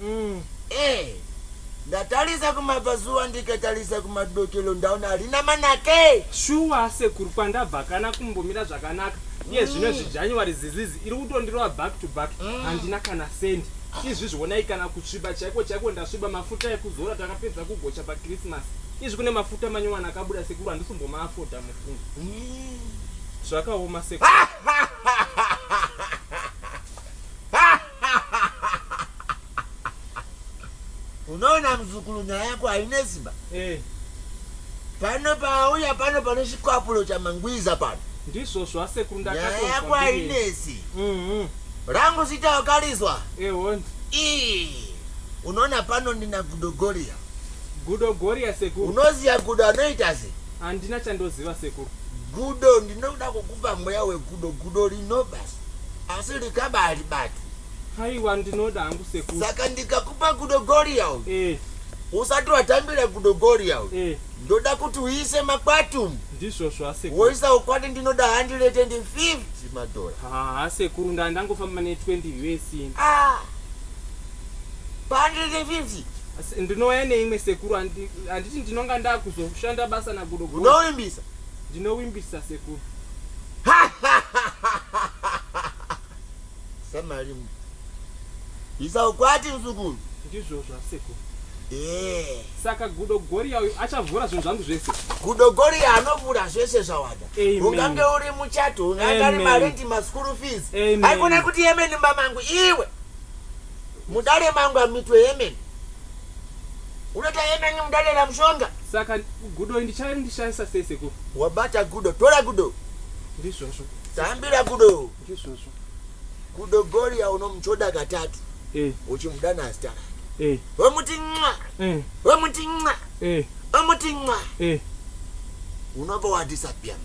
Mm. Eh. Ndatarisa kumabvazuva ndikatarisa kumadokelo ndaona harina manake. Shuwa sekuru kwandabva kana kumbomira zvakanaka. Iye zvino mm. zvijanuary zizizi iri kutondirova back to back mm. handina kana sendi. Izvi zvionai kana kusviba chaiko chaiko ndasviba mafuta ekuzora takapedza kugocha paChristmas. Izvi kune mafuta manyowani akabuda sekuru handisombomaafodha mufungo. Mm. Zvakaoma sekuru. unoona muzukuru nyaya yako haine simba eh. pano pauya pano pane chikwapulo chamangwiza pano ndizvozvo asekuru nyaya yako hainesi mhm. rangu zita wakarizwa ehondi eh, unoona pano ndina gudogoria gudogoria sekuru unoziva gudo anoita se handina chandoziva sekuru gudo ndinoda kukupa mweya wegudo gudo rinobasa asi likaba alibati haiwa ndinoda hangu sekuru saka ndikakupa gudo goria uyu eh. usati watambira gudo goria uyu eh. ndoda kuti uise makwatumu ndizvozvo asekuru woisa ukwati ndinoda handirete ndi 50 madhora haa sekuru ndaa ndangofamba ne 20 vesini ah. pahandire 50 ndinouya neimwe sekuru handiti ndinonga ndaakuzoshanda basa nagudo unoimbisa ndinowimbisa sekuru samari isa ukwati msukuru ndizvozvo asekuru eh. saka gudo goriya uyu achavhura zvinhu zvangu zvese gudo goriya anovhura zvese zvawada ungange uri muchato ungange ari marendi maskuru fees aikona kuti yemenimba mangu iwe Mudare mangu hamuitwe hemen. Unoita hemen mudare ramushonga. Saka gudo ndichave ndishaisa sei sekuru? Wabata gudo, tora gudo. Ndizvozvo. Tambira gudo. Ndizvozvo. Gudo Goria unomuchoda katatu. Eh. Uchimudana azita rake. Eh. Wemuti nxa. Eh. Wemuti nxa. Eh. Wemuti nxa. Eh. Unobva wadisappear.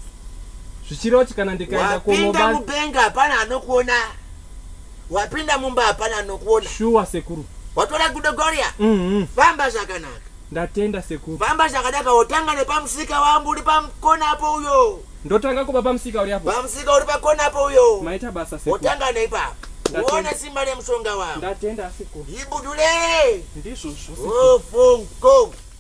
Zvichiroti kana ndikaenda kunoba. Wapinda mubenga hapana anokuona. Wapinda mumba hapana anokuona. Shuwa sekuru. Watora gudo Gloria? Mhm. Famba zvakanaka. Ndatenda sekuru. Famba zvakanaka wotanga nepamusika wangu uri pamkona apo uyo. Ndotanga kuba pamusika uri apo. Pamusika uri pakona apo uyo. Maita basa sekuru. Wotanga neipapo. Ndatenda. Uone simba remushonga wangu. Ndatenda sekuru. Ibudule. Ndizvozvo sekuru. Ofungo.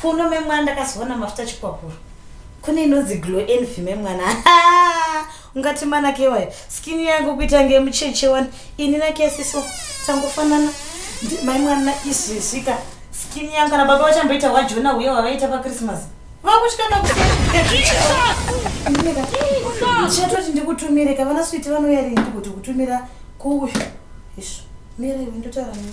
Kuno memwana ndakazoona mafuta chikwapuro. Kune inonzi glow envy memwana. Ungati mana kewayo. Skin yangu kuita nge mucheche wani. Ini na kesi so tangofanana. Mai mwana izvi zvika. Skin yangu kana baba vachamboita wa Jona huye wavaita pa Christmas. Vakuchikana kuti. Chatoti ndikutumire ka vana switi vanoyari ndikuti kutumira kuuyu. Ish. Mira iwe ndotaura nini?